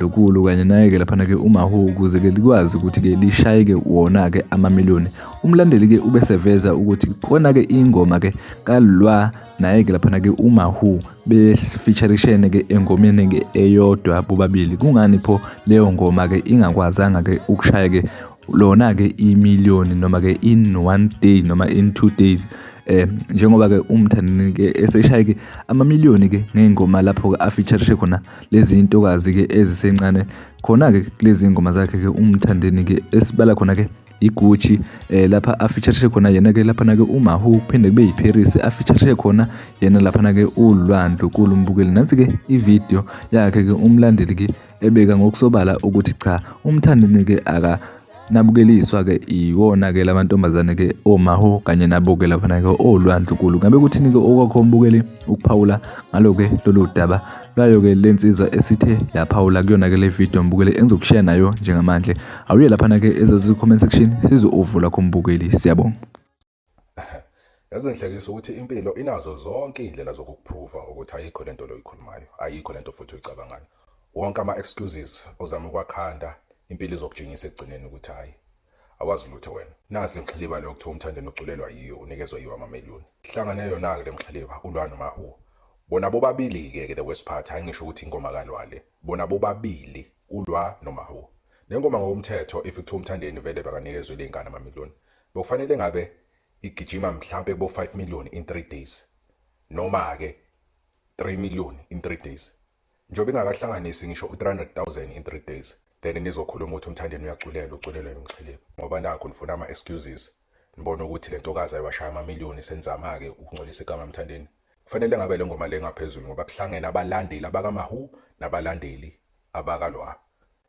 lokulu kanye naye-ke laphana-ke umahu ukuze-ke likwazi ukuthi-ke lishayeke wona-ke amamiliyoni umlandeli-ke ube seveza ukuthi khona-ke ingoma-ke kalwa naye-ke laphana-ke umahu befeaturishene-ke engomeni-ke eyodwa bobabili kungani pho leyo ngoma-ke ingakwazanga-ke ukushaya-ke lona-ke imiliyoni noma-ke in one day noma in two days eh njengoba-ke umthandeni-ke eseshaye-ke amamiliyoni-ke ngey'ngoma lapho-ke afeaturishe khona lezi ntokazi-ke ezisencane khona-ke kulezi ngoma zakhe-ke umthandeni-ke esibala khona-ke igucci eh lapha afeature khona yena ke lapha nake umahu kuphinde kube yiparis afeature khona yena lapha nake ulwandlu kulu mbukeli nansi ke ivideo yakhe ke umlandeli ke ebeka ngokusobala ukuthi cha umthandeni ke aka Nabukeliswa ke iwona ke lamantombazane ke omaho kanye nabo ke laphana ke olwandlukulu ngabe kuthini ke okwakho mbukeli ukuphawula ngalo ke lolu daba lwayo ke lensizwa esithe yaphawula kuyona ke le video mbukeli engizokushare nayo njengamanje awuye laphana ke ezezi comment section sizovula khombukeli siyabonga yazi ngihlekisa ukuthi impilo inazo zonke iy'ndlela zokukuphruva ukuthi ayikho le nto le oyikhulumayo ayikho le nto futhi oyicabangayo wonke ama-excuses ozama ukwakhanda impilo izokujingisa ekugcineni ukuthi hhayi awazi lutho wena nasi le mxhiliba leyo kuthiwa umthandeni uculelwa yiyo unikezwa yiwo amameliyoni hlangane yona-ke le mxhiliba ulwa nomahuwa bona bobabili-ke ke the worst part hhayi ngisho ukuthi ingoma kalwale bona bobabili ulwa nomahuwa le ngoma ngokomthetho if kuthiwa umthandeni vele bakanikezwe le ngane amamiliyoni Bekufanele ngabe igijima mhlampe kubo 5 million in 3 days noma ke 3 million in 3 days njobe ingakahlanganisi ngisho u300000 in 3 days then nizokhuluma ukuthi umthandeni uyaculela uculela umxhilebe ngoba nakho nifuna ama excuses nibona ukuthi lento kaza iwashaya ama million senzama ke ukungcolisa igama emthandeni kufanele ngabe lengoma lengaphezulu ngoba kuhlangene abalandeli abakamahu nabalandeli abakalwa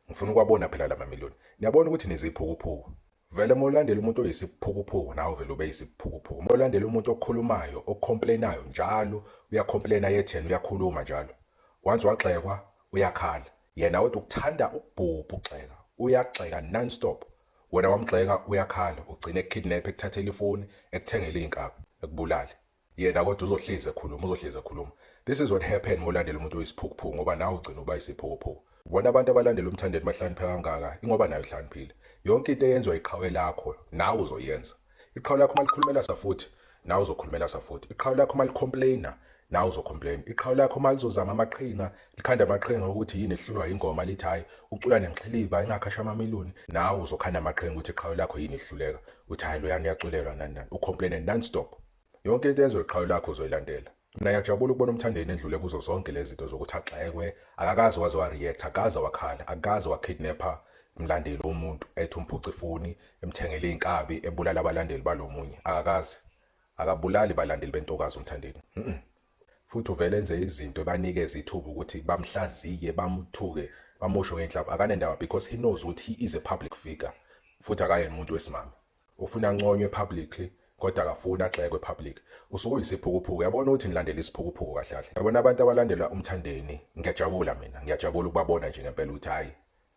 ngifuna ukwabona phela lama million niyabona ukuthi niziphukuphuku Vele uma ulandela umuntu oyisiphukuphuku nawe vele ube yisiphukuphuku. Uma ulandela umuntu okhulumayo, ocomplainayo njalo, uyacomplaina yethena uyakhuluma njalo. Once wagxekwa uyakhala. Yena wethu ukuthanda ukubhubha ugxeka. Uyagxeka non stop. Wena wamgxeka uyakhala, ugcine ekukidnap, ekuthathela ifoni, ekuthengele izinkabi, ekubulale. yena kodwa uzohlezi ekhuluma uzohlezi ekhuluma this is what happen molandela umuntu oyisiphukuphuku ngoba nawe ugcina uba isiphukuphuku bona abantu abalandela umthandeni bahlanipheka kangaka ingoba nayo ihlaniphile yonke into eyenziwa iqhawe lakho nawe uzoyenza iqhawe lakho uma likhulumela safuthi nawe uzokhulumela safuthi iqhawe lakho uma licomplaina nawe uzocomplaina iqhawe lakho uma lizozama amaqhinga likhanda amaqhinga ukuthi yini ehlulwa ingoma lithi hhayi ucula nenxiliba ingakhasha amamiliyoni nawe uzokhanda amaqhinga ukuthi iqhawe lakho yini ehluleka uthi hhayi loyani uyaculelwa nani nani ucomplaine nonstop yonke into yenziwe iqhawe lakho uzoyilandela mina ngiyajabula ukubona umthandeni endlule kuzo zonke lezi zinto zokuthi agxekwe akakaze waze wa-react akaze wakhala akaze wakidnapha mlandeli womuntu ethi umphuca ifoni emthengele iy'nkabi ebulala abalandeli balo munye akakaze akabulali balandeli bentokazi umthandeni mm -mm. futhi uvele enze izinto ebanikeza ithuba ukuthi bamhlaziye bamthuke bamusho ngenhlamba akanendaba because he knows ukuthi he is a public figure futhi akayena umuntu wesimame ufuna anconywe publicly kodwa akafuni agxekwe public usuke uyisiphukuphuku yabona ukuthi nilandela isiphukuphuku kahle kahle yabona abantu abalandela umthandeni ngiyajabula mina ngiyajabula ukubabona nje ngempela ukuthi hhayi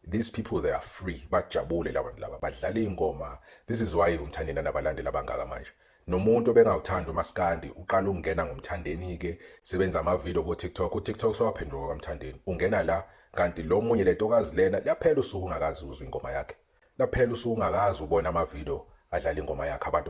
These people they are free bajabule labantu laba badlala ingoma this is why umthandeni anabalandeli abangaka manje nomuntu obengawuthanda umaskandi uqala ukungena ngomthandeni ke sebenza ama video ku TikTok u TikTok sowaphenduka kwamthandeni ungena la kanti lo munye lento kazi lena laphela usuku ungakazi uzwe ingoma yakhe laphela usuku ungakazi ubona ama video adlala ingoma yakhe abantu